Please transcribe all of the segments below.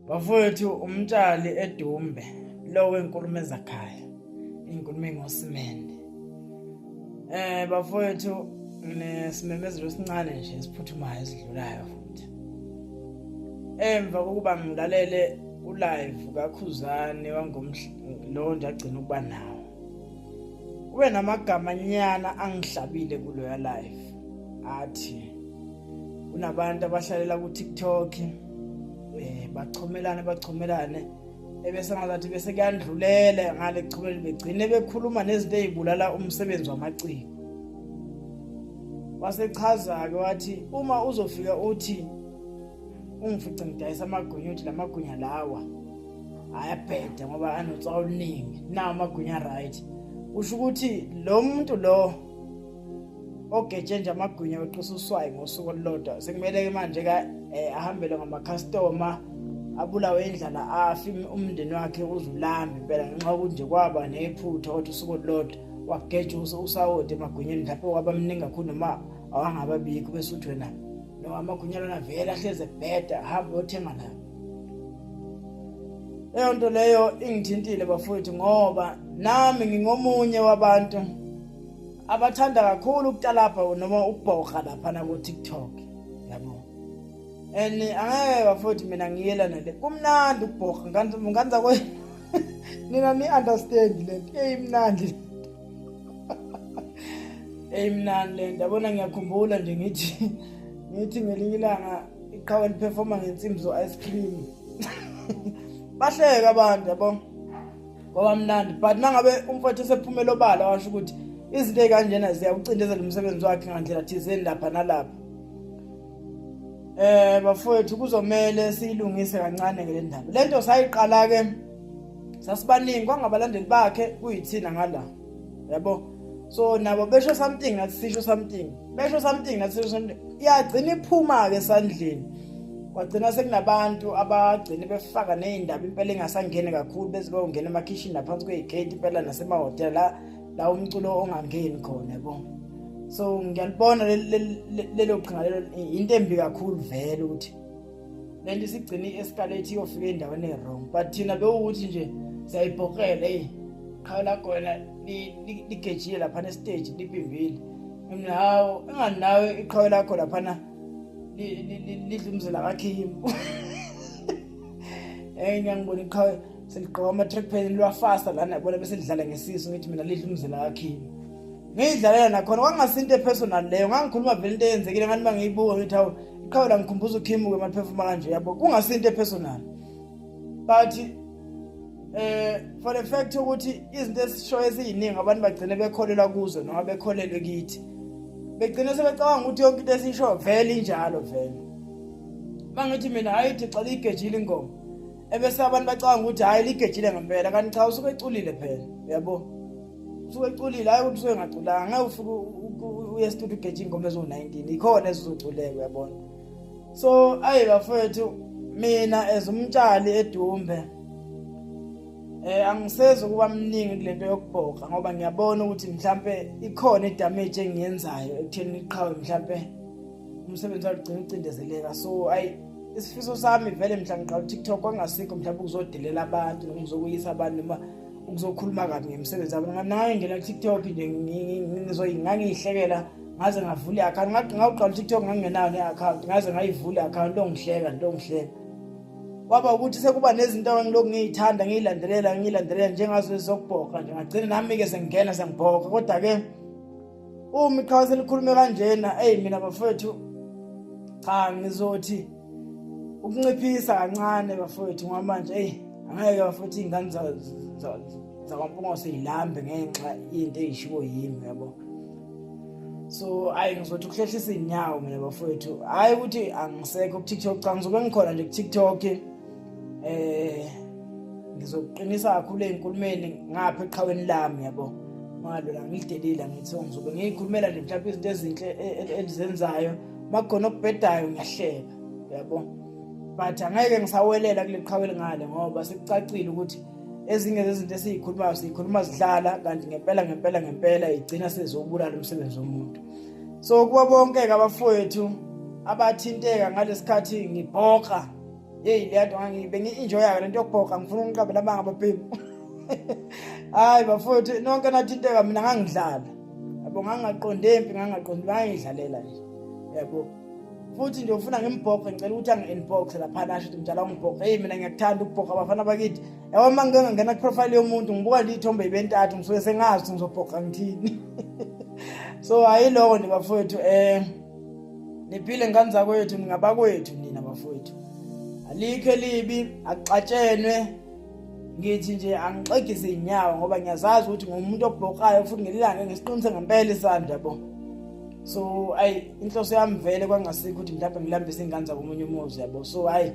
bafowethu umtshali edumbe lowo enkulumo ezakhaya inkulumo engosimende eh bafowethu nesimemezelo esincane nje esiphuthumayo esidlulayo futhi emva kokuba ngilalele ulive kakhuzane wangomhla lo nje agcina ukuba nawo kube namagama nyana angihlabile kuloya live athi kunabantu abahlalela ku TikTok eh bachomelane bachomelane ebese ngazathi bese kuyandlulela ngale kuchumela begcine bekhuluma nezinto ezibulala umsebenzi wamaciko wasechaza ke wathi uma uzofika uthi ungifice ngidayisa amagwinya uthi lamagwinya lawa ayabheda ngoba anotsa oluningi nawo amagwinya right usho ukuthi lo muntu lo ogetshe nje amagwinya weqisa uswayi ngosuku olulodwa sekumele-ke manje-ke um ahambele ngamakhastoma abulawe indlala afi umndeni wakhe uzulambi impela ngenxa yokuthi nje kwaba nephutha kodwa usuku olulodwa wageja usawoti emagwinyeni lapho wabamningi kakhulu noma awangababikho bese uthi wena noma amagwinya lona vele ahlezi ebheda hamba uyothenga la leyo nto leyo ingithintile bafowethu ngoba nami ngingomunye wabantu abathanda kakhulu ukutalabha noma ukubhoga laphana ku-tiktok yabo and angeke bafowethu mina ngiyela nale kumnandi ukubhoga nganza kwe nina ni-understand le nto eyimnandi eyimnandi le nto yabona ngiyakhumbula nje ngithi ngithi ngelinye ilanga iqhawe liphefoma ngensimbi zo-ice cream bahleke abantu yabo kwabamnandi but mangabe umfowethu esephumela obala washo ukuthi izinto ezikanjena ziyawucindezela umsebenzi wakhe ngandlela thizeni lapha nalapha eh bafowethu kuzomele siyilungise kancane ngale ndaba lento sayiqala ke sasibaningi kwangabalandeli bakhe kuyithina ngala yabo so nabo besho something nathi sisho something besho something nathi sisho something iyagcina iphuma-ke esandleni kwagcina sekunabantu abagcine befaka ney'ndaba impela engasangeni kakhulu beze bayongena emakhishini naphansi kwey'gate impela nasemahhotela la la umculo ongangeni khona yabo so ngiyalibona lelo qhinga lelo into embi kakhulu vele ukuthi lento isigcine i-escalate iyofika endaweni e-wrong but thina bewukuthi nje siyayibhokela eyi qhawe lakho wena ligejile laphana esiteji lipimbile mina hawu enganawe iqhawe lakho laphana lidla umzila kakhimu eyi ngiyangibona iqhawe seligqoka ama-track pen liwafasta lana yabona bese lidlala ngesiso ngithi mina lidla umzila kakhimu ngiyidlalela nakhona kwakungasi into epersonal leyo ngangikhuluma vele into eyenzekile ngani uma ngiyibuka ngithi hawu iqhawe la ngikhumbuza ukhimuke uma liphefuma kanje yabo kungasi into epersonal but eh for the fact ukuthi izinto esishoyo eziyiningi abantu bagcine bekholelwa kuzo noma bekholelwe kithi begcine sebecabanga ukuthi yonke into esishoyo vele injalo vele mangithi mina hayi thixela igejile ingoma ebese abantu bacanga ukuthi hhayi ligejile ngempela kanti cha usuke eculile phela uyabo usuke eculile hhayi ukuthi usuke engaculanga ngeke ufike uye studio ugeje ingoma eziwu-19 ikhona ezizoculeka uyabona so ayi bafowethu mina as umtshali edumbe eh angisezi ukuba mningi kulento yokubhoka ngoba ngiyabona ukuthi mhlambe ikhona idamage engiyenzayo ekutheni iqhawe mhlambe umsebenzi wagcina ucindezeleka so ayi isifiso sami vele mhla ngiqala uTikTok kwangasikho mhlawumbe ukuzodelela abantu noma ukuzokuyisa abantu noma ukuzokhuluma kabi ngemisebenzi yabo nganaye ngena TikTok nje ngizoyingangiyihlekela ngaze ngavula i-account ngathi ngawuqala uTikTok ngangingenayo ne-account ngaze ngayivula i-account ongihleka nto ongihleka kwaba ukuthi sekuba nezinto engilokhu ngiyithanda ngiyilandelela ngiyilandelela njengazo ezokubhoka nje ngagcina nami-ke sengingena sengibhoka kodwa-ke uma iqhawe selikhulume kanjena eyi mina bafowethu cha ngizothi ukunciphisa kancane bafowethu ngoba manje eyi angeke bafowethu iy'ngane zakwampungose yilambe ngenxa into eyishiwo yimi yabo so ayi ngizothi ukuhlehlisa iy'nyawo mina bafowethu hhayi ukuthi angisekho kutiktok cha ngizobe ngikhona nje kutiktok eh ngizokuqinisa kakhulu ezinkulumeni ngapha eqhaweni lami yabo ngalo la ngidelile ngithi ngizobe ngiyikhulumela nje mhlawumbe izinto ezinhle e, e, elizenzayo makukhona okubhedayo ngiyahleka yabo but angeke ngisawelela kule qhawe lingale ngoba sekucacile ukuthi ezinye zezinto esiyikhulumayo siyikhuluma zidlala kanti ngempela ngempela ngempela igcina sezobulala umsebenzi womuntu so kuba bonke-ke abafowethu abathinteka ngalesikhathi ngibhoka yeyi le nto bengi-enjoyayo le nto yokubhoka ngifuna ukunqabela amanga babhemu hayi bafowethu nonke nathinteka mina ngangidlala yabo ngangingaqondi empi ngangingaqondi ngangiyidlalela nje yabo futhi nje ufuna ngimbhoxe ngicela ukuthi angi-inboxe laphana asho ukuthi mdala ungibhoxe eyi mina ngiyakuthanda ukubhoxa abafana bakithi yabo uma ngike ngangena kuprofayile yomuntu ngibuka nje iy'thombe yibentathu ngisuke sengazi ukuthi ngizobhoxa ngithini so ayiloko nje bafowethu um niphile ngani zakwethu ningabakwethu nina bafowethu alikho elibi akuxatshenwe ngithi nje angixegise inyawo ngoba ngiyazazi ukuthi ngomuntu obhokayo futhi ngelilanga ngisiqinise ngempela isandla yabo so ayi inhloso yami vele kwangasikho ukuthi mhlawumbe ngilambise ingane zakomunye umuzi yabo so ayi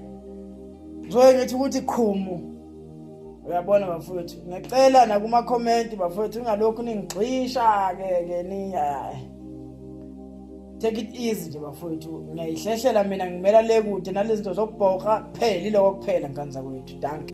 ngizoye ngithi ukuthi qhumu uyabona bafowethu ngicela nakumakhomenti bafowethu ungalokhu ningigxisha-ke ke niyayi take it easy nje bafowethu ngiyayihlehlela mina ngimela le kude nalezi zinto zokubhoka kuphela iloko kuphela nkanza kwethu danke